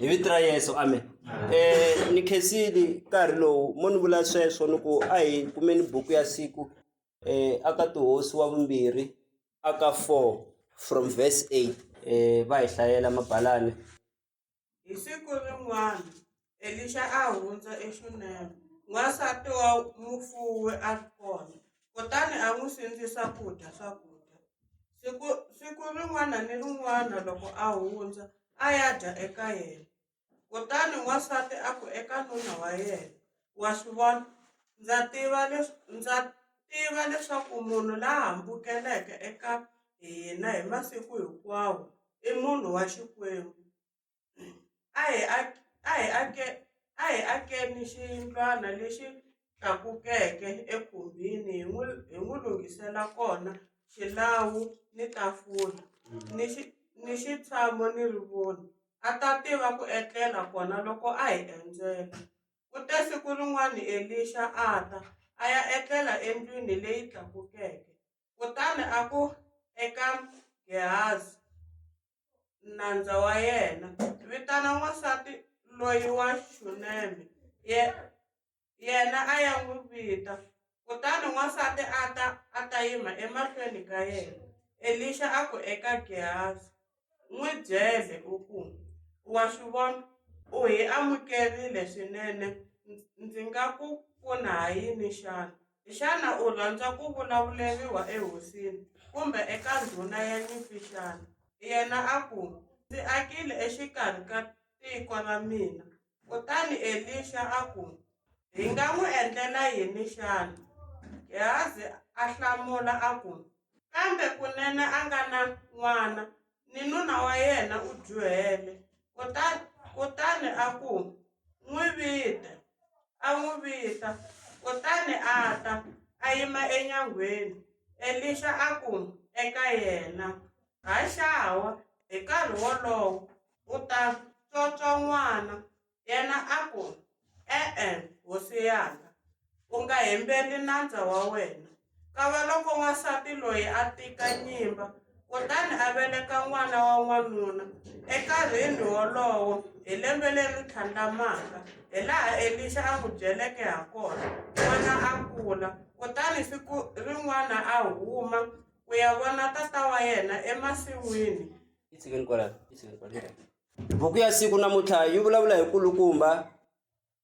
hi vito ra yesu amen um ni khensili nkarhi lowu mo ni vula sweswo ni ku a hi kumeni buku ya siku um aka tihosi wa vumbirhi aka four from verse eight um va hi hlayela mabalani Hi siku rin'wana Elixa a hundza eXuneme, n'wansati wa mufuwi a ri kona, kutani a n'wi sindzisa ku dya swakudya. Siku siku rin'wana ni rin'wana loko a hundza a ya dya eka yena, kutani n'wansati a ku eka nuna wa yena, wa swi vona ndza tiva leswi ndza tiva leswaku munhu la hambukeleke eka hina hi masiku hinkwawo i munhu wa Xikwembu a hi a a hi ake a hi akeni xiyindlwana lexi tlakukeke ekhumbini hi n'wi hi n'wi lunghisela kona xilawu ni tafula ni xi ni xitshamo ni rivoni a ta tiva ku etlela kona loko a hi endzela. Kute siku rin'wana Elixa a ta, a ya etlela endlwini leyi tlakukeke, kutani a ku eka Gehazi, nandza wa yena, Vitana wansati loyi wa Xuneme. Yena a ya n'wi vita. Kutani wansati a ta a ta yima emahlweni ka yena. Elixa a ku eka Gehazi, N'wi byele u ku, Wa swi vona, u hi amukerile swinene. Ndzi nga ku pfuna ha yini xana? Xana u rhandza ku vulavuleriwa ehosini kumbe eka ndhuna ya nyimpi xana? Yena a ku, Ndzi akile exikarhi ka tiko ra mina Kutani Elixa a ku, Hi nga n'wi endlela yini xana? Gehazi a hlamula a ku, Kambe kunene a nga na n'wana, ni nuna wa yena u dyohele. Kutani a ku, N'wi vita. A n'wi vita, kutani a ta, a yima enyangweni. Elixa a ku eka yena, Haxawa, hi nkarhi wolowo u ta tswotswa n'wana. Yena a ku, E-e, hosi yaka, u nga hembeli nandza wa wena. Kavaloko n'wansati loyi a tika nyimba kutani a veleka n'wana wa n'wanuna enkarhini wolowo hi lembe leri tlhandlamaka, hilaha Elixa a n'wi byeleke hakona, n'wana a kula. Kutani siku rin'wana a huma ku ya vona tata wa yena emasin'wini. yi tshikeni kwalano yi tshikeni kwalano buku ya siku namuntlha yi vulavula hi kulukumba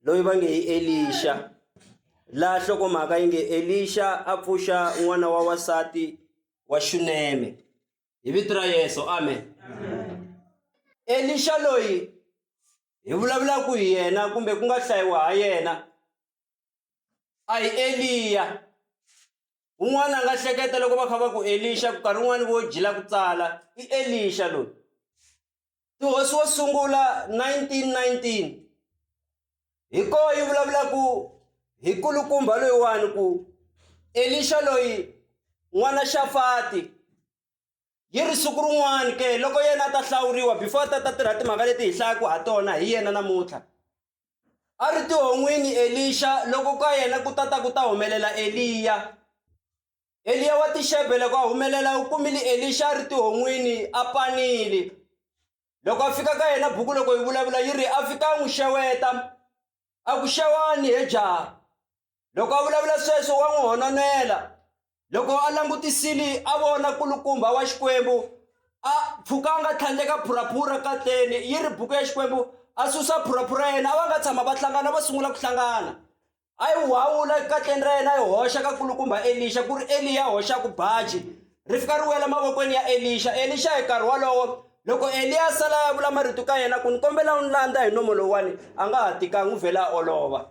loyi va nge hi elixa laha hlokomhaka yi nge elixa a pfuxa n'wana wa wasati wa xuneme hi vito ra yesu amen elixa loyi hi vulavulaka hi yena kumbe ku nga hlayiwa ha yena a hi eliya un'wana a nga hleketa loko va kha va ku elixa ku karhi un'wana vo jila ku tsala i elixa loyi tihosi wo sungula 1919 hi ko yi vulavulaku hi kulukumba loyiwani ku elixa loyi n'wana xafati yi ri siku rin'wana ke loko yena a ta hlawuriwa before a ta ta tirha timhaka leti hi hlayaka ha tona hi yena namuntlha a ri tihon'wini elixa loko ka yena ku tata ku ta humelela eliya eliya wa tixebe loko a humelela u kumile elixa a ri tihon'wini a panile loko a fika ka yena buku loko yi vulavula yi ri a fika a n'wi xeweta a ku xewani he jaha Loko a vulavula sweswo wa n'wi hononela. Loko a langutisile a vona kulukumba wa Xikwembu a pfuka a nga tlhandleka phuraphura katleni yi ri buku ya Xikwembu a susa phuraphura ya yena a va nga tshama va hlangana va sungula ku hlangana a yi wawula katleni ra yena a yi hoxa ka kulukumba Elixa ku ri Eliya hoxaku baji ri fika ri wela mavokweni ya Elixa Elixa hi nkarhi wolowo loko Eliya a sala ya vula marito ka yena ku ni kombela u ni landza hi nomo lowuwani a nga ha tikangi u vhela a olova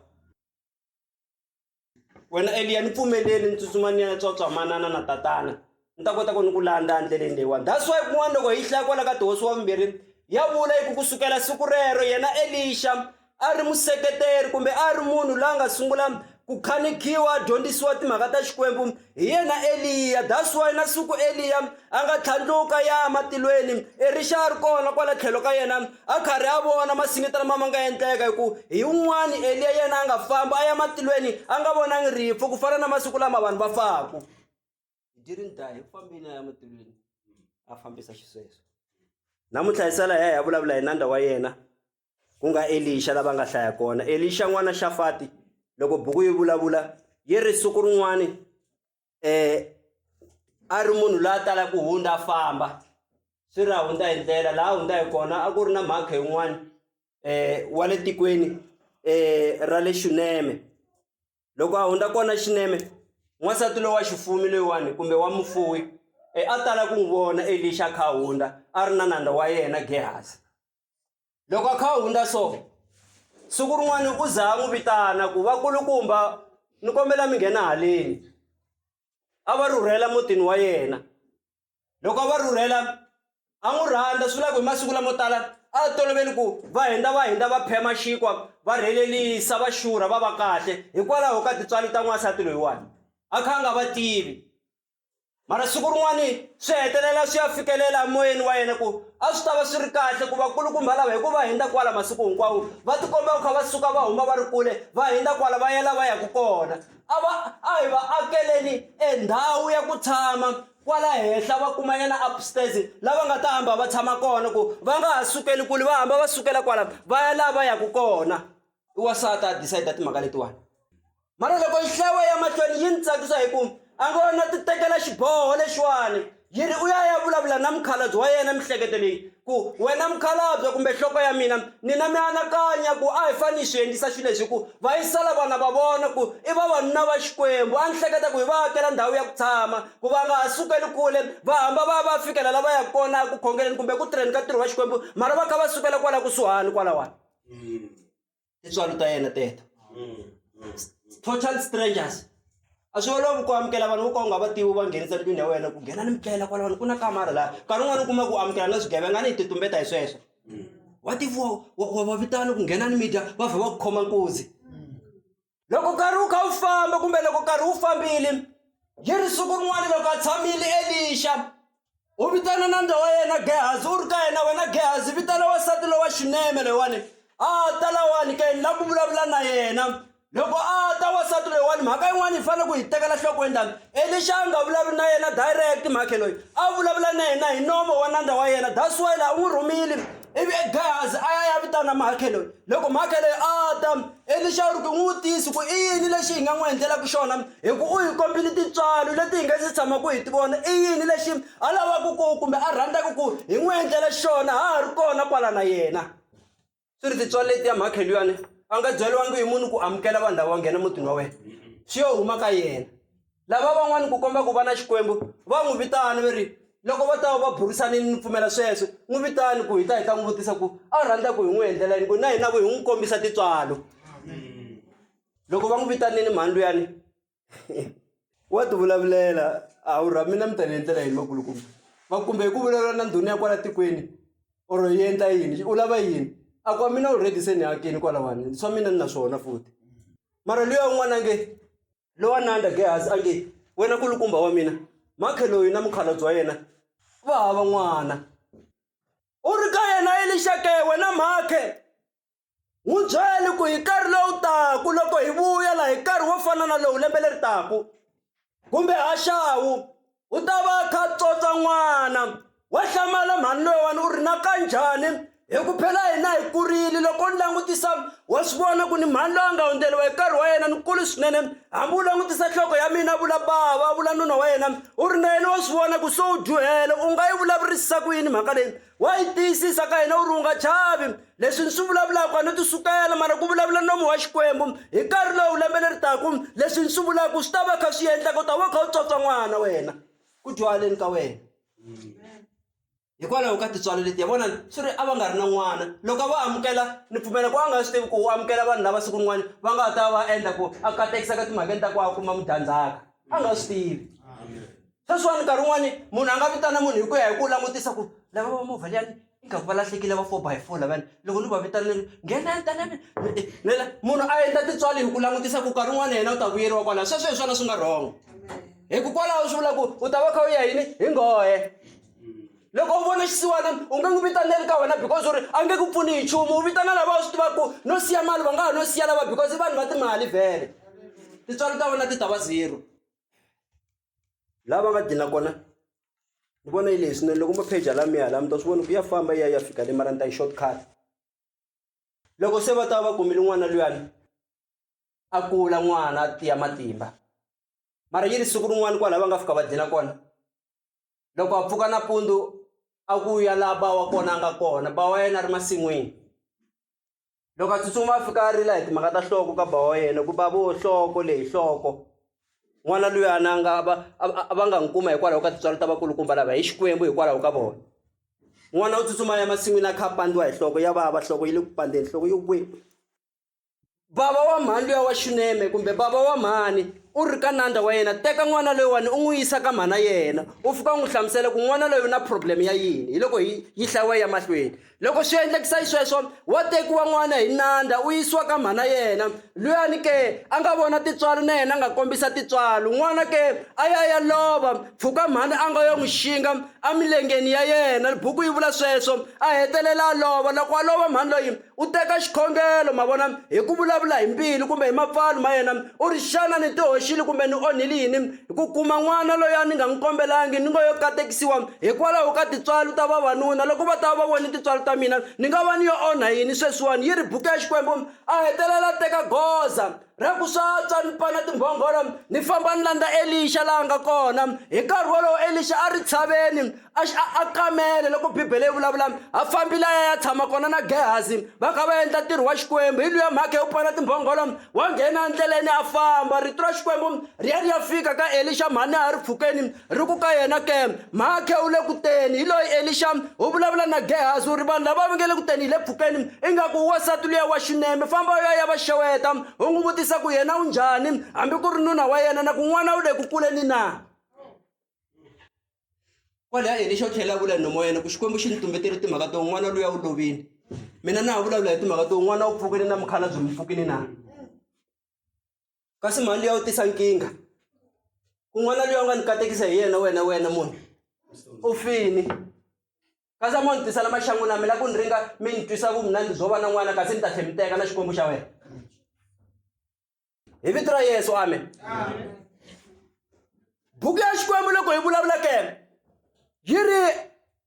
wena eliya ni pfumeleli ni tsutsuma ni ya na tswatswa manana na tatana ni ta kota ku ni ku landza endleleni leyiwani that's why kun'wana loko hi hlaya kwala ka tihosi wa vumbirhi ya vula yi ku ku sukela siku rero yena elixa a ri museketeri kumbe a ri munhu la nga sungula ku khanikiwa a dyondzisiwa timhaka ta xikwembu Hi yena Eliya. That's why na siku Eliya a nga tlhandluka ya matilweni Erixa a ri kona kwala tlhelo ka yena a karhi a vona masinita lama ma nga endleka hi ku hi un'wani Eliya yena a nga famba a ya matilweni a nga vonangi rifu ku fana na masiku lama vanhu va faku he didn't die hi fambile a ya matilweni a fambisa xisweswo namuntlha hi sala hi ya hi ya vulavula hi nandza wa yena ku nga elixa lava nga hlaya kona elixa n'wana xafati loko buku yi vulavula yi ri siku rin'wana um eh, a ri munhu la tala ku hundza a famba swi ri a hundza hi ndlela laha hundza hi kona a ku ri na mhaka yin'wana um eh, wa le tikweni um eh, ra le xuneme loko a hundza kona xineme n'wansati lowa xifumi loyiwani kumbe wa mufuwi e a tala ku n'wi vona elixa kha hundza a ri na nandza wa yena gehasi loko a kha a hundza so siku rin'wana u za a n'wi vitana ku vakulukumba ni kombela mi nghena haleni a va rhurhela mutini wa yena loko a va rhurhela a n'wi rhandza swi vula ku hi masiku lamo tala a va toloveli ku va hindza va hindza va phema xinkwa va rhelelisa va xurha va va kahle hikwalaho ka tintswalo ta n'wansati loyiwani a kha a nga va tivi mara siku rin'wani swi hetelela swi ya fikelela moyeni wa yena ku a swi ta va swi ri kahle ku vakulukumba lava hikuva hindza kwala masiku hinkwawo va tikomba ku kha va suka va huma va ri kule va hindza kwala va yela va yaka kona a va a hi va akeleni endhawu ya ku tshama kwala henhla va kumanyana upstairs lava nga ta hamba va tshama kona ku va nga ha sukeli kule va hamba va sukela kwala va ya laha va yaka kona i wasati a decide timhaka letiwani mara loko nhlawo ya mahlweni yi ni tsakisa hi ku a ngo na ti tekela xiboho lexiwani yi ri u ya ya vulavula na mukhalabye wa yena mihleketo leyi ku wena mukhalabye kumbe nhloko ya mina ni na mianakanya ku a hi fane hi swi endlisa xilo lexi hi ku va yisela vana va vona ku i vavanuna va xikwembu a ni hleketa ku hi va akela ndhawu ya ku tshama ku va nga ha sukeli kule va hamba va ya va fikela la va yaka kona ku khongeleni kumbe ku tirheni ka ntirho wa xikwembu mara va kha va sukela kwala kusuhani kwalawani mm. tintswalo ta yena teto mm, mm. total strangers a swi olovi ku amukela vanhu vo ka u nga va tivi va nghenisa ndlwini ya wena ku nghena ni mitlela kwalawani ku na kamara laha nkarhi un'wana u kuma ku amukela na swigevenga ni hi titumbeta hi sweswo wa tiviwa wa va vitana ku nghena ni midya va vha va ku khoma nkuzi loko nkarhi wu kha wu famba kumbe loko nkarhi wu fambile yi ri siku rin'wana loko a tshamile elixa u vitana na ndza wa yena gehazi u ri ka yena wena gehazi vitana wasati lowa xineme loyiwani a ta lawani ka yini la ku vulavula na yena loko a ta wasati loyiwani mhaka yin'wana yi fanele ku hi tekela nhlokweni lani elixa a nga vulavuli na yena direct mhakhe loyi a vulavula na yena hi nomo wa nandza wa yena that's why la u n'wi rhumile ivi gehazi a ya ya vitana mhakhe loyi loko mhakhe leyi a ta Elixa u ri ku, N'witisi, ku i yini lexi hi nga n'wi endlelaka xona? Hikuva u hi kombile tintswalo leti hi nga si tshamaka hi ti vona. I yini lexi a lavaka ku kumbe a rhandzaka ku hi n'wi endlela xona ha ha ri kona kwala na yena? Swi ri, Tintswalo letiya makhelwani a nga byeriwangi hi munhu ku amukela vanhu lava va nghena emutini wa wena, swi yo huma ka yena. Lava van'wana ku komba ku va na Xikwembu va n'wi vitana va ri, Loko vo ta va va burisanile ni pfumela sweswo, n'wi vitani ku hi ta hi ta n'wi vutisa ku a rhandza ku hi n'wi endlela yini ku na hina ku hi n'wi kombisa tintswalo. Loko va n'wi vitanile mhani luyani wa tivulavulela, a wu ra mina mi ta ni endlela yini vakulukumba, va ku kumbe hi ku vulavula na ndhuna ya kwala tikweni or yi endla yini u lava yini, a ku wa mina already se ni akini kwalawani swa mina ni na swona futhi mara luya un'wana a nge. lowa nanda gehazi a nge wena kulukumba wa mina makhe loyi na mukhalabye wa yena va hava n'wana u ri ka yena elixake wena makhe n'wi byele ku hi nkarhi lowu taku loko hi vuya laha hi nkarhi wo fana na lowu lembe leri taku kumbe haxawu u ta va a kha a tsotsa n'wana wa hlamala mhani loyiwani u ri na ka njhani hi ku phela hina hi kurile loko ni langutisa wa swi vona ku ni mhani loyi a nga hundzeriwa hi nkarhi wa yena ni kulu swinene hambi u langutisa nhloko ya mina vula bava vula nuna wa yena u ri na yena wa swi vona ku se u dyuhele u nga yi vulavurisisa ku yini mhaka leyi wa yi tiyisisa ka hina u ri u nga chavi leswi ni swi vulavulaka a no ti sukela mara ku vulavula nomu wa xikwembu hi nkarhi lowu lembe leri taku leswi ni swi vulaka swi ta va kha swi endlaka u ta va kha u tswatswa n'wana wena ku dyuhaleni ka wena hikwalaho ka tintswalo letiya vona swi ri a va nga ri na n'wana loko va amukela ni pfumela ku a nga swi tivi ku u amukela vanhu lava siku rin'wana va nga ha ta va endla ku a katekisa ka timhakeni ta ku a kuma mudyandzhaka a nga swi tivi sweswiwani nkarhi wun'wani munhu a nga vitana munhu hi ku ya hi ku langutisa ku lava va movha liyani ingaku va lahlekile va four by four lavani loko ni va vitana ni nghena tana nela munhu a endla tintswali hi ku langutisa ku nkarhi wun'wana yena u ta vuyeriwa kwalaho sweswo hi swona swi nga wrong hikukwalaho swi vula ku u ta va kha u ya yini hi nghohe loko u vona xisiwana u nge n'wi vitaneli ka wena because u ri a nge ku pfuni hi nchumu u vitana lava u swi tivaka ku no siya mali va nga ha no siya lava because i vanhu va timali vhele tintswalo ta wena ti ta va zero laha va nga dlina kona ni vona yi lehe swinene loko mo pheja laha mi ya laha mi ta swi vona ku ya famba yi ya yi ya fika le mara ni ta yi short cut loko se va ta va kumile n'wana luyani a kula n'wana a tiya matimba mara yi ri siku rin'wana kwalaho va nga fika va dlina kona loko a pfuka nampundzu a ku ya laha ba wa kona a nga kona ba wa yena a ri masin'wini. loko a tsutsuma a fika a rila hi timhaka ta nhloko ka ba wa yena ku ba vo nhloko leyi nhloko n'wana luyana a nga va a va nga n'wi kuma hikwalaho ka tintswalo ta vakulukumba lava hi xikwembu hikwalaho ka vona n'wana u tsutsuma ya masin'wini a kha a pandiwa hi nhloko ya vava nhloko yi le ku pandeni nhloko yo kwe bava wa mhani luya wa xuneme kumbe bava wa mhani u ri ka nandza wa yena teka n'wana loyiwani u n'wi yisa ka mhana yena u fika u n'wi hlamusela ku n'wana loyi u na problem ya yini hi loko yi yi hlayiwa ya mahlweni Loko swi endlekisa xisweswo, wa tekiwa n'wana hi nandha u yisiwa ka mhana yena. Luyani ke a nga vona tintswalo na yena a nga kombisa tintswalo. N'wana ke a ya a ya lova, pfuka mhana a nga yo n'wi xinga emilengeni ya yena. Buku yi vula sweswo. A hetelela a lova. Loko a lova mhani loyi u teka xikhongelo, ma vona, hi ku vulavula hi mbilu kumbe hi mapfalo ma yena, u ri, Xana ni tihoxile kumbe ni onhile yini? hi ku kuma n'wana loyi a ni nga n'wi kombelangi ni ngo yo katekisiwa hikwalaho ka tintswalo ta vavanuna loko va ta va voni tintswalo ta mina ni nga va ni yo onha yini sweswiwani yi ri buku ya xikwembu a hetelela a teka goza ra ku swa tswa ni pana timbhongolo ni famba ni landza elixa laha nga kona hi nkarhi wolowo elixa a ri tshaveni a xi a kamele loko bibele yi vulavula a fambile a ya ya tshama kona na gehazi va kha va endla ntirho wa xikwembu hi luya mhaka yo pfala timbhongolo wa nghena endleleni a famba rito ra xikwembu ri ya ri ya fika ka elixa mhani a ri pfukeni ri ku ka yena ke mhakhe u le kuteni hi loyi elixa u vulavula na gehazi u ri vanhu lava va nge le kuteni hi le pfukeni ingaku u wasati luya wa xuneme famba u ya ya va xeweta u n'wi vutisa ku yena u njhani hambi ku ri nuna wa yena na ku n'wana u le ku kuleni na kwalaya yena xo tlhela a vula hi nomoyena ku xikwembu xi ni tumbeteri timhaka to n'wana luya u lovile mina na ha vulavula hi timhaka to n'wana u pfukile na mukhala byi mi pfukile na kasi mhani luya u tisa nkingha ku n'wana luya u nga ni katekisa hi yena wena wena munhu u fini kasi a mo ni tisela maxangu na mina ku ni ringa mi ni twisa vumunandi byo va na n'wana kasi ni ta tlhe mi teka na xikwembu xa wena hi vito ra yesu amen buku ya xikwembu loko hi vulavula ke yi ri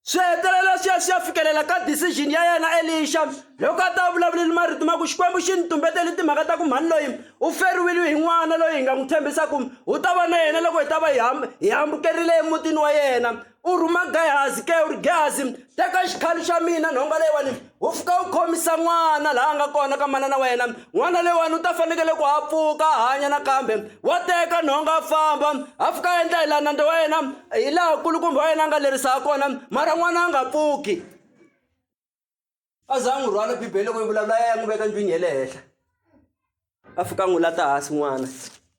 swi hetelela swi ya swi ya fikelela ka decision ya yena elixa loko a ta vulavuleli marito ma ku xikwembu xi ni tumbeteli timhaka ta ku mhani loyi u feriwile hi n'wana loyi hi nga n'wi tshembisa ku u ta va na yena loko hi ta va hi hambukerile emutini wa yena u rhuma gehazi ke u ri gehazi teka xikhali xa mina nhonga leyiwani u fika u khomisa n'wana laha a nga kona ka manana wa yena n'wana leyiwani u ta fanekele ku a pfuka a hanya nakambe wa teka nhonga a famba a fika a endla hi laha nandza wa yena hi laha kulukumba wa yena a nga lerisa ha kona mara n'wana a nga pfuki a za a n'wi rhwala bibele loko yi vulavula a ya n'wi veka ndlwini ya le henhla a fika a n'wi lata hansi n'wana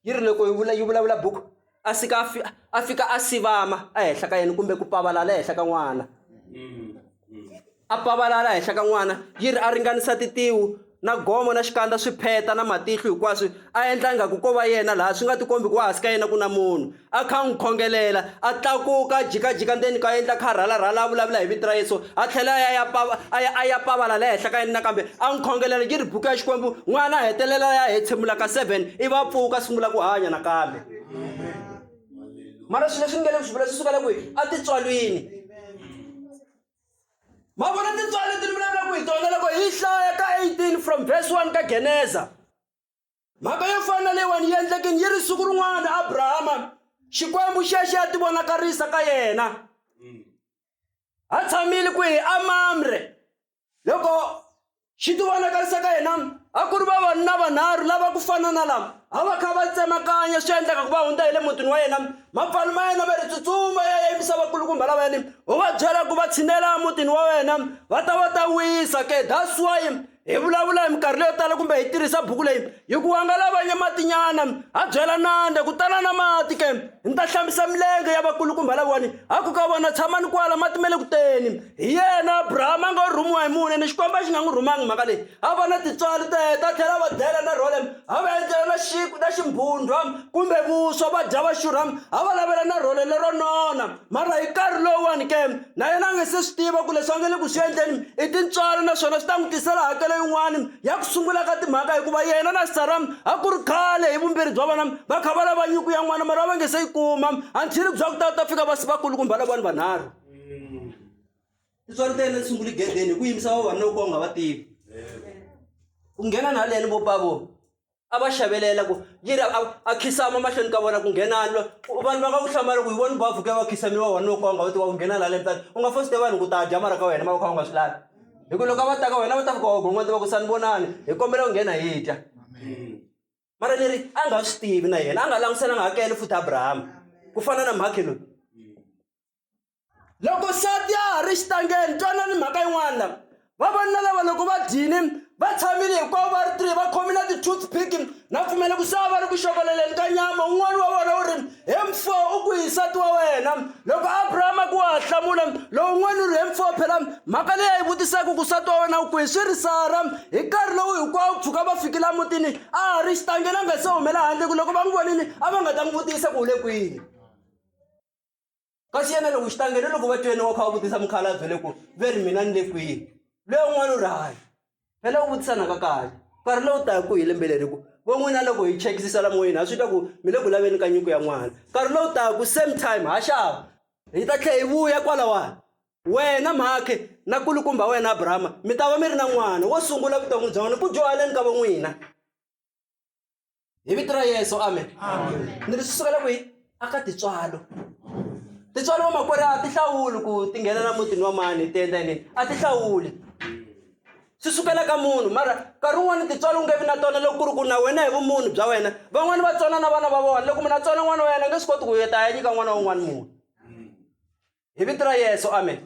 yi ri loko yi vula yi vulavula buku a fika a fika a sivama ehenhla ka yena kumbe ku pavalala ehenhla ka n'wana a pavalala ehenhla ka n'wana yi ri a ringanisa titiwu na gomo na xikandza swi pheta na matihlo hinkwaswo a endla ingaku ko va yena laha swi nga tikombi ku wa hansi ka yena ku na munhu a kha n'wi khongelela a tlakuka a jikajika ndzeni ka endla kha rhalarhala a vulavula hi vito ra yesu a tlhela a ya pava a ya a ya pavala la henhla ka yena nakambe a n'wi khongelela yi ri buku ya xikwembu n'wana a hetelela ya hetshemula ka seven i va pfuka sungula ku hanya nakambe mara swilo leswi ni nge le ku swi vula swi sukela kwihi a titswalwini ma vona tintswalo leti ni vulavulaka hi tona loko hi hlaya ka 18 from verse 1 ka geneza mhaka yo fana na leyiwani yi endlekini yi ri siku rin'wana abrahama xikwembu xexo ya tivonakarisa ka yena a tshamile kwihi amamre loko xi tivonakarisa ka hina a ku ri vavanuna vanharhu lava ku fana na lama a va kha va tsemakanya swi endlaka ku va hundza hi le mutini wa yena mapfalo ma yena va ri tsutsuma ya ya yimisa vakulukumba lava yini u va byela ku va tshinela emutini wa wena va ta va ta wisa ke that's why hi vulavula hi minkarhi leyo tala kumbe hi tirhisa buku leyi hi ku wanga lavanye matinyana a byela nande ku tala na mati ke ni ta hlambisa milenge ya vakulukumba laviwani a ku ka vona tshamani kwala mati ma le ku teni hi yena abrahama a ngo rhumiwa hi mune ni xikwembu a xi nga n'wi rhumangi mhaka leyi a va na tintswalo ta yena ta tlhela va dela na rolem a va endlela na xiku na ximbhundhwa kumbe vuswa va dya va xurham a va lavela na role lero nona mara hi nkarhi lowuwani ke na yena a nge se swi tiva ku leswi a nge le ku swi endleni i tintswalo naswona swi ta n'wi tisela hakelo yin'wani ya ku sungula ka timhaka hikuva yena na saram a ku ri khale hi vumbirhi bya vona va kha va lava nyuku ya n'wana mara a va nge se yi kuma until bya ku ta ta fika va vakulukumba lavani vanharhu tintswalo ta yena ti sunguli gedeni hi ku yimisa vavanuna ku ka u nga va tivi ku nghena na haleni vo pavo a va xavelela ku yiri a khisama mahlweni ka vona ku nghenani lo vanhu va nga ku hlamala ku hi voni bavu ke va khisami vavanuna ku ka u nga va tiva ku nghena na haleni tani u nga fosite vanhu ku ta dya mara ka wena ma va kha u nga swi lavi hi ku loko a va ta ka wena va ta fika wa gon'wana ti va ku sani vonani hi kombela ku nghena hi dya mara ni ri a nga swi tivi na yena a nga languselanga hakele futhi abrahama ku fana na mhakhe loyi loko nsati ya ha ri xitangeni twana ni mhaka yin'wana lava vavanuna lava loko va dyini va tshamile hinkwavo va ri three va khome na ti-toothpick na pfumela ku sava va ri ku xokoleleni ka nyama un'wana wa vona u ri He mfo, u kwihi nsati wa wena? Loko Abrahama ku wa ha hlamula, lowun'wana u ri, He mfo, phela mhaka leyi a yi vutisaka ku nsati wa wena u kwihi swi ri Sara. Hi nkarhi lowu hinkwawo ku pfuka va fiki la mutini a ha ri xitangeni a nga se humela handle ku loko va n'wi vonile a va nga ta n'wi vutisa ku u le kwini. kasi yena loko xitangele loko va twene wa kha va vutisa mukhalabye le ku ve ri mina ni le kwihi loyi un'wana u ri hayi phela u vutisa naka kahle nkarhi lowu taku hi lembe leri ku vo n'wina loko hi chekisisa la moyeni ha swi twa ku mi le ku laveni ka nyiko ya n'wana nkarhi lowu taku same time ha xava hi ta tlhe hi vuya kwalawani wena mhakhe na kulukumba wena abrahama mi ta va mi ri na n'wana wo sungula vuton'wi bya n'wina ku dyohaleni ka vo n'wina hi vito ra yesu amen ni ri swi sukela kwihi a ka tintswalo tintswalo vamakwerhu a ti hlawuli ku ti nghena na mutini wa mani ti endla yini a ti hlawuli swi sukela ka munhu mara nkarhi wun'wani tintswalo u nge vi na tona loko ku ri ku na wena hi vumunhu bya wena van'wani va tsona na vana va vona loko munhu a tsona n'wana wa yena a nge swi koti ku yeta a ya nyika n'wana wa un'wana munhu hi vito ra yesu amen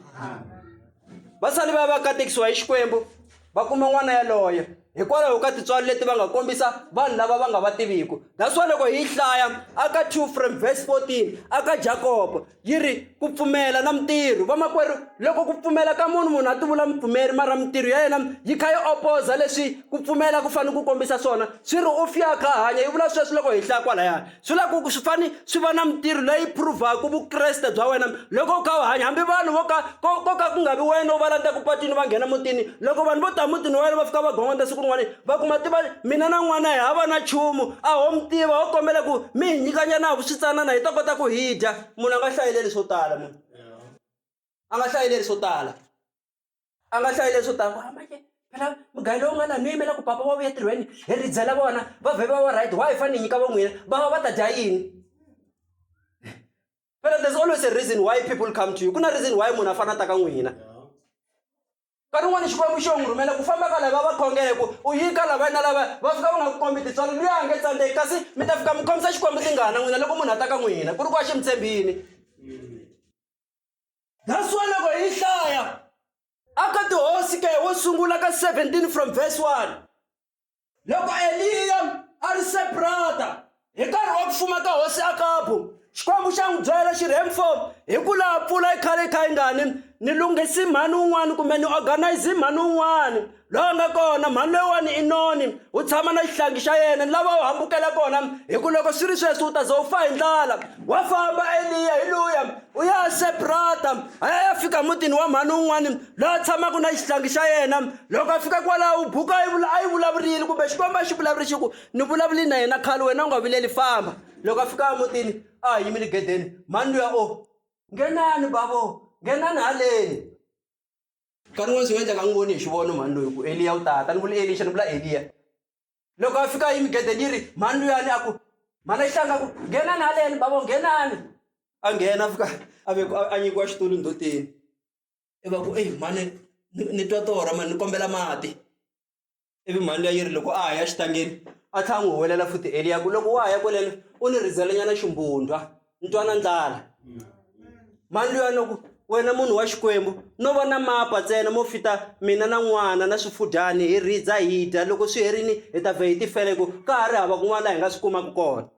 vasali va va katekisiwa hi xikwembu va kuma n'wana yaloye hikwalaho ka tintswalo leti va nga kombisa vanhu lava va nga va tiviku that's wa loko hi hlaya aka two from verse 14 aka jakobo yi ri ku pfumela na mintirho vamakwerhu loko ku pfumela ka munhu munhu a ti vula mupfumeri mara mintirho ya yena yi kha yi opoza leswi ku pfumela ku fanele ku kombisa swona swi ri u fiyakha hanya yi vula sweswi loko hi hlaya kwalayani swi la ku swi fane swi va na mintirho leyi prove-aka vukreste bya wena loko u kha u hanya hambi vanhu vo ka ko ko ka ku nga vi wena u va landzaka patwini va nghena mutini loko vanhu vo ta mutini wa wena va fika va gongonda siku rin'wana va kuma tiva mina na n'wana hi hava na nchumu a ho mi tiva ho kombela ku mi hi nyikanyana hi vuswitsanana hi ta kota ku hi dya munhu a nga hlayeleli swo tala munhu a nga hlayeleli swo tala a nga hlayi leswo tala ku hamba ke phela mugayo lowu nga la no yimela ku papa va vuya tirhweni hi ri byela vona va vhe va va right why hi fanele hi nyika va n'wina va va va ta dya yini phela there's always a reason why people come to you ku na reason why munhu a fana ta ka n'wina nkarhi wun'wana xikwembu xo n'wi rhumela ku famba ka lava va khongele ku u yi ka lavaya na lavaya va fika va nga ku kombi tintswalo luya a nge tsandzeki kasi mi ta fika mi khomisa xikwembu tingana n'wina loko munhu a ta ka n'wina ku ri ku a xi mi tshembini That's why loko hi hlaya aka tihosi ke wo sungula ka 17 from verse 1 loko eliya a ri separata hi nkarhi wa ku fuma ka hosi akabu xikwembu xa n'wi byela xi rhem fo hi ku laha pfula yi khale yi kha yi ngani ni lunghisi mhani wun'wani kumbe ni organize mhani wun'wani laha nga kona mhani loyiwani i noni u tshama na xihlangi xa yena ni lava u hambukela kona hi ku loko swi ri sweswi u ta ze u fa hi ndlala wa famba eliya hi luya u ya sebrata a ya ya fika mutini wa mhani un'wani loyi a tshamaka na xihlangi xa yena loko a fika kwalaho u buka a yi vula a yi vulavurile kumbe xikwembu a xi vulavuri xi ku ni vulavuli na yena khale wena u nga vileli famba loko a fika emutini a ha yimile gedeni mhani luya o nghenani bavo nghenani haleni nkarhi wun'wana swi nga endleka n'wi voni hi xivono mhani loyi ku eliya u tata ni vula elixa ni vula eliya loko a fika yimi gede ni ri mhani luyani a ku mhani a hlanga ku nghenani haleni bavo nghenani a nghena a fika a ve a nyikiwa xitulu ndhoteni i va ku eyi mhani ni twa torha mani ni kombela mati ivi mhani luya yi ri loko a ha ya xitangeni a tlha a n'wi huwelela futi eliya ku loko wa ha ya kweleno u ni rhidzelenyana ximbundwa ni twana ndlala mhani luya no ku wena munhu wa xikwembu no va na mapa ntsena mo fita mina na n'wana na swifudyani hi rhidza hi dya loko swi herini hi ta vhe hi tifele ku ka ha ri hava kun'wana laha hi nga swi kumaka kona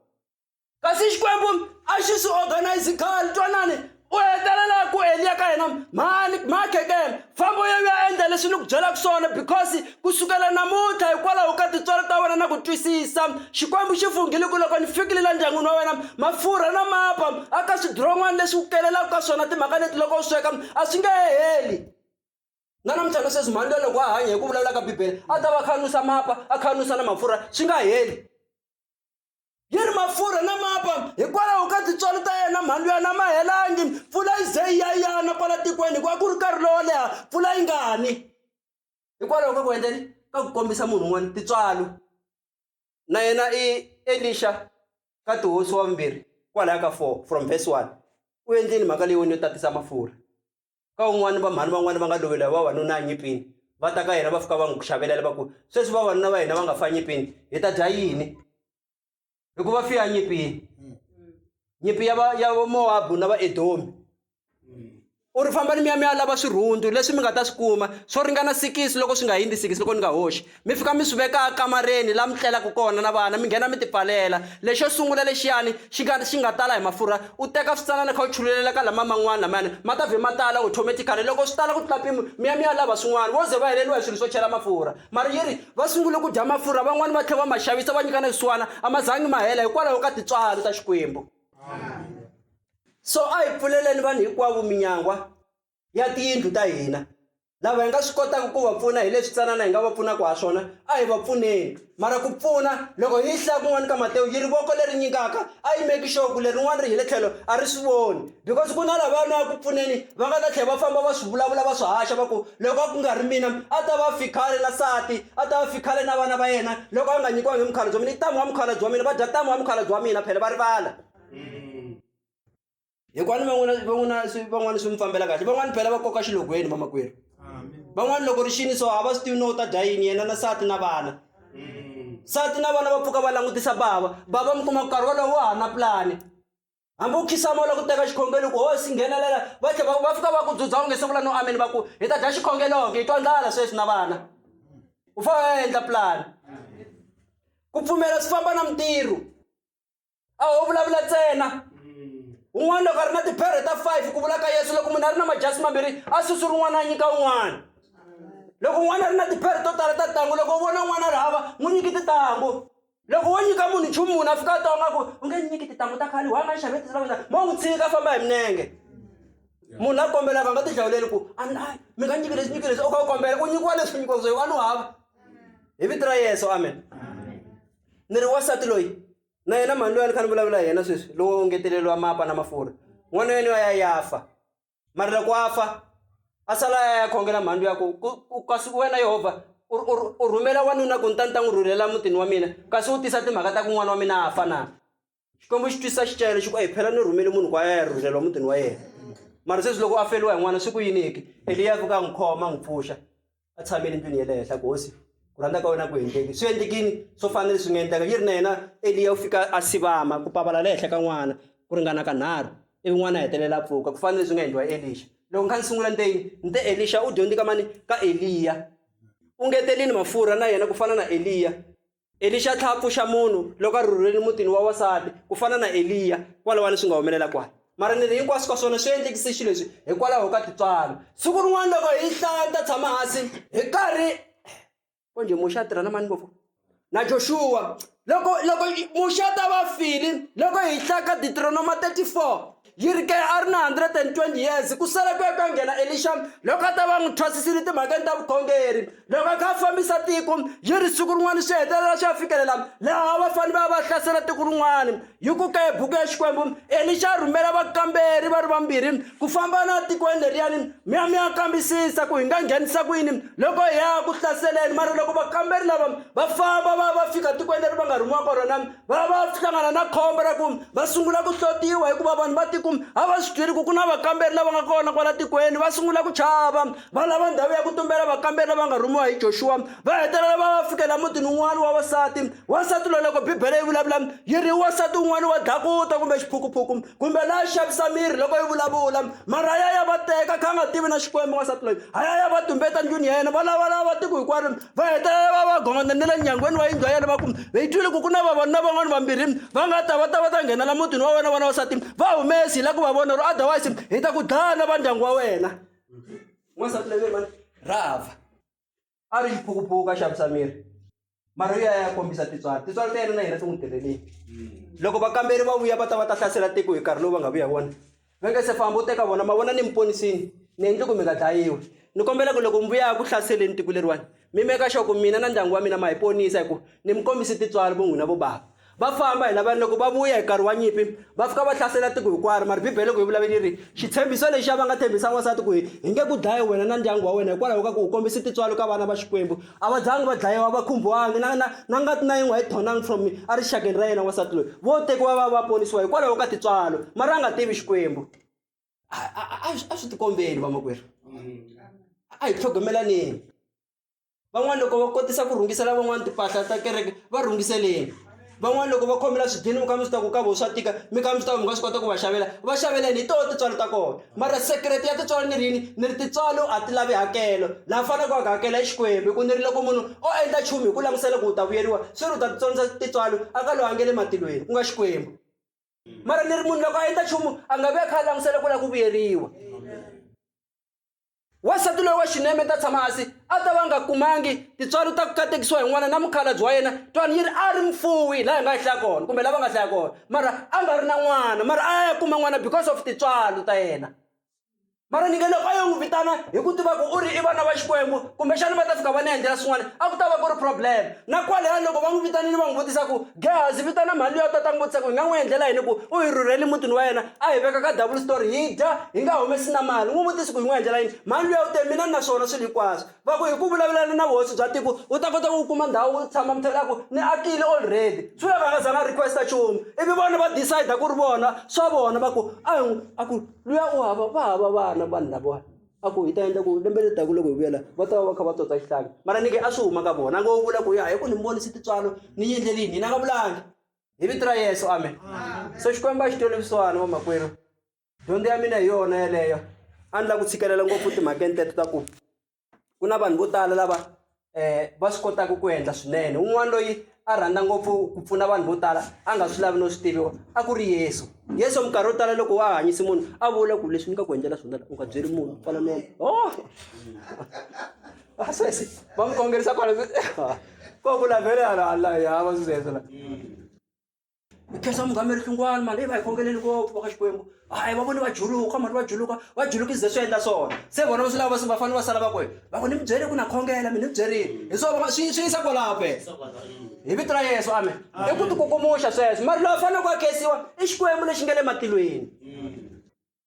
kasi xikwembu a xi swi organize khale twanani u hetelela ku eliya ka yena mhani mhakhekela fambo yo ya endla leswi ni ku byelaka swona because ku sukela namuntlha hikwalaho ka tintswalo ta wena na ku twisisa xikwembu xi funghile ku loko ni fikile la ndyangwini wa wena mafurha na mapa a ka swidiron'wana leswi ku kelelaka ka swona timhaka leti loko u sweka a swi nge heli na namuntlha na sweswi mhani loyi loko a hanya hi ku vulavula ka bibele a ta va khanusa mapa a khanusa na mafurha swi nga heli yi ri mafurha na mapa hikwalaho ka tintswalo ta yena mhani luya na ma helangi mpfula yi ze yi ya yana kwala tikweni hikuva ku ri nkarhi lowo leha mpfula yi nga ni hikwalaho ka ku endleni ka ku kombisa munhu un'wana tintswalo na yena i elixa ka tihosi wa vumbirhi kwalaya ka four from verse one u endleni mhaka leyiwani yo tatisa mafurha ka un'wana va mhani van'wana va nga lovela vavanuna anyipini va ta ka yena va fika va n'wi xavelela va ku sweswi vavanuna va hina va nga fa nyipini hi ta dya yini hikuva fi ya nyipini nyipi ya va ya vamowabu na vaedomi u ri fambani mi ya mi ya lava swirhundu leswi mi nga ta swi kuma swo ringana sikisi loko swi nga hundzi sikisi loko ni nga hoxi mi fika mi swi veka kamareni laha mi tlelaka kona na vana mi nghena mi ti pfalela lexo sungula lexiyani xi nga xi nga tala hi mafurha u teka switsanana kha u chululela ka lama man'wana lamayani ma ta vhe ma tala automatically loko swi tala ku tlula mpimo mi ya mi ya lava swin'wana vo ze va heleriwa hi swilo swo chela mafurha mara yi ri va sungule ku dya mafurha van'wani va tlhela va ma xavisa va nyika na swisiwana a ma zangi ma hela hikwalaho ka tintswalo ta xikwembu so a hi pfuleleni vanhu hinkwavo minyangwa ya tiyindlu ta hina lava hi nga swi kotaka ku va pfuna hi leswi tsanana hi nga va pfunaka ha swona a hi va pfuneni mara ku pfuna loko hi hlaya kun'wana ka matewu yi ri voko leri nyikaka a yi meki xoku lerin'wana ri hi le tlhelo a ri swi voni because ku na lava nwa ku pfuneni va nga ta tlhela va famba va swi vulavula va swi haxa va ku loko a ku nga ri mina a ta va fikhale na sati a ta va fikhale na vana va yena loko a nga nyikiwangi mukhalabye wa mina i tamu wa mukhalabye wa mina va dya tamu wa mukhalabye wa mina phela va rivala hikwani van'wana van'wana swi van'wana swi mi fambela kahle van'wana phela va koka xilogweni vamakwerhu van'wana loko ri xini so a va swi tivi no u ta dya yini yena na sati na vana sati na vana va pfuka va langutisa bava bava mi kuma nkarhi wolowo wa ha na pulani hambi u khisama u la ku teka xikhongelo ku hosi nghenelela va tlhe va fika va ku dzudza u nge se vula no ameni va ku hi ta dya xikhogeloke hi twa ndlala sweswi na vana u fanele u ya endla pulani ku pfumela swi famba na mintirho a ho vulavula ntsena un'wana loko a ri na tiphere ta five ku vula ka yesu loko munhu a ri na majasi mambirhi a susu rin'wana a nyika un'wana loko un'wana a ri na tiphere to tala ta tintangu loko u vona un'wana a ri hava n'wi nyiki tintangu loko wo nyika munhu nchumu munhu a fika a twa ngaku u nge nyiki tintangu ta khale wa nga xave tisilakona mo n'wi tshika famba hi minenge munhu la kombelaka a nga ti hlawuleli ku a mi nga nyiki leswi nyiki leswi u kha u kombela u nyikiwa leswi nyikiwaka swo a ni hava hi vito ra yeso amen ni ri wasati loyi na yena mhani loyi a ni kha ni vulavula hi yena sweswi lowo ngeteleriwa mapa na mafurha n'wana yena wa ya ya fa mari loko a fa a sala ya ya khongela mhandlu ya ku kasi wena yehovha u rhumela wanuna ku ni ta ni ta n'wi rhurhela mutini wa mina kasi u tisa timhaka ta ku n'wana wa mina a fa na xikwembu xi twisisa xicayelo xi ku eyi phela ni rhumele munhu ku a ya ya rhurhelwa mutini wa yena mara sweswi loko a feliwa hi n'wana swi ku yiniki eliya fika a n'wi khoma a n'wi pfuxa a tshamele ndlwini ya le henhla ku hosi ku rhandza ka wena ku endleki swi endlekini swo fana leswi nga endleka yi ri na yena eliya u fika a sivama ku pavala le henhla ka n'wana ku ringana ka nharhu ivi n'wana a hetelela a pfuka ku fana leswi nga endliwa elixa loko kha ni sungula ni te yini ni te elixa u dyondze ka mani ka eliya u ngetelini mafurha na yena ku fana na eliya elixa tlha a pfuxa munhu loko a rhurhuleni mutini wa wasati ku fana na eliya kwalawani swi nga humelela kwani mara ni ri hinkwaswo ka swona swi endlekise xilo leswi hikwalaho ka titswalo siku rin'wana loko hi hlaya ni ta tshama hansi hi karhi konje muxa a tirha na mani ngopfu na joshuwa loko loko muxa ta va file loko hi hlaya ka deuteronoma 34 Yi ri ke a ri na 120 years ku sala ku ya ku ya nghena Elixa loko a ta va n'wi thwasisile timhakeni ta vukhongeri. Loko a kha a fambisa tiko yi ri siku rin'wana swi hetelela swi ya fikelela laha va fane va ya va hlasela tiko rin'wana. Yi ku ke buku ya Xikwembu Elixa a rhumela vakamberi va ri vambirhi ku famba na tikweni leriyani mi ya mi ya kambisisa ku hi nga nghenisa ku yini loko hi ya ku hlaseleni mara loko vakamberi lava va famba va ya va fika tikweni leri va nga rhumiwa ka rona va va hlangana na khombo ra ku va sungula ku hlotiwa hikuva vanhu va tiku a va swi byeli ku ku na vakamberi lava nga kona kwala tikweni va sungula ku chava va lava ndhawu ya ku tumbela vakamberi lava nga rhumiwa hi joxuwa va hetelela va va fikela mutini wun'wana wa wasati wasati loyi loko bibele yi vulavula yi ri wasati wun'wana wa dlakuta kumbe xiphukuphuku kumbe la xavisa miri loko yi vulavula mara a ya ya va teka kha a nga tivi na xikwembu wansati loyi a ya ya va tumbeta ndlwini ya yena va lavalava tiko hinkwaro va hetelela va va gongondza ni le nyangweni wa yindlu ya yena va ku hi twile ku ku na vavanuna van'wana vambirhi va nga ta va ta va ta nghenela mutini wa wena vana wasati va humesi hi la ku va vona ro otherwise hi ta ku dlaya na va ndyangu wa wena wansati loyi rahava a ri xiphukuphuka xa vusameri mariya ya kombisa tintswalo tintswalo ta yena na hina ti n'wi tirheleni hmm. loko vakamberi va vuya va ta va ta hlasela tiko hi nkarhi lowu va nga vuya wona va nge se famba u teka vona ma vona ni mi ponisini ni endli ku mi nga dlayiwi ni kombela ku loko mi vuya ku hlaseleni tiko leriwani mi meka xoko mina na ndyangu wa mina ma hi ponisa hi ku ni mi kombisi tintswalo vo n'wina vo bava Va famba hi lavani loko va vuya hi nkarhi wa nyimpi va fika va hlasela tiko hinkwaro mara bibele loko hi vulavula yi ri xitshembiso lexiya va nga tshembisa n'wansati ku hi hi nge ku dlaye wena na ndyangu wa wena hikwalaho ka ku u kombise tintswalo ka vana va xikwembu a va zangi va dlayiwa va khumbiwangi na na na ngati na yin'we a yi thonangi from erixakeni ra yena n'wansati loyi vo tekiwa va va ponisiwa hikwalaho ka tintswalo mara a nga tivi xikwembu a swi tikombeli vamakwerhu a hi tlhogomelaneni van'wani loko va kotisa ku rhungisela van'wani timpahla ta kereke va rhungiseleni van'wani loko va khomela swidyini mi kha mi swi ta ku ka vo swa tika mi kha mi swi ta ku mi nga swi kota ku va xavela va xaveleni hi toho tintswalo ta kona mara sekerete ya tintswalo ni ri yini ni ri tintswalo a ti lavi hakelo laha faneleke wa ku hakela hi xikwembu hi ku ni ri loko munhu o endla nchumu hi ku langusela ku u ta vuyeriwa swi ri u ta titsonisa tintswalo a ka loyi a nge le matilweni ku nga xikwembu mara ni ri munhu loko a endla nchumu a nga vi a kha a langusela ku lava ku vuyeriwa wansati loyi wa xineme ta tshama hansi a ta va nga kumangi tintswalo ta ku katekisiwa hi n'wana na mukhalabyi wa yena twani yi ri a ri mfuwi laha hi nga yi hlaya kona kumbe lava nga hlaya kona mara a nga ri na n'wana mara a ya kuma n'wana because of tintswalo ta yena mara ni nge loko a yo n'wi vitana hi ku tiva ku u ri i vana va xikwembu kumbexana va ta fika va ni endlela swin'wana a ku ta va ku ri problem na kwalaya loko va n'wi vitanile va n'wi vutisa ku Gehazi vitana mhani luya tata ngopfu ku hi nga n'wi endlela yini ku u hi rhurhele mutini wa yena a hi veka ka double story hi dya hi nga humesi na mali n'wi vutisi ku hi n'wi endlela yini mhani luya u te mina ni na swona swilo hinkwaswo va ku hi ku vulavulana na vuhosi bya tiko u ta kota ku kuma ndhawu u tshama mithelo a ku ni akile already swi lava nga zanga request nchumu ivi vona va decide ku ri vona swa vona va ku a hi a ku luya u hava va hava vana vanhu lavawani a ku hi ta endla ku lembe leri taka loko hi vuyela va ta va va kha va tsotsa xihlanga mara nike a swi huma ka vona ngo vula ku ya hi ku ni vonisi titswalo ni yi endlelini hina nga vulangi hi vito ra yesu amen so xikwembu a xi tweni vusiwana vamakwerhu dyondzo ya mina hi yona yeleyo a ni lava ku tshikelela ngopfu timhakeni teto ta ku ku na vanhu vo tala lava um va swi kotaka ku endla swinene un'wana loyi a rhandza ngopfu ku pfuna vanhu vo tala a nga swi lavi no swi tiviwa a ku ri yesu yesu minkarhi yo tala loko wa hanyisi munhu a vula ku leswi ni nga ku endlela swona u nga byeri munhu kwala no o oh! vasesi va n'wi kongerisa kwala ko vula vele hala hala ya va swi zesela hi khensa mungameri hlungwana mali i va hi khongeleni ngopfu va ka xikwembu hayi va voni va juluka mali va juluka va juluki ze swi endla swona se vona swi lava va fanele va sala va ku va ku ni mi byele ku na khongela mi ni byerile hi swona swi swi yisa kwalaho phela hi vito ra yesu amen i ku tikukumuxa sweswo mari loyi a fanele ku a khensiwa i xikwembu lexi nga le matilweni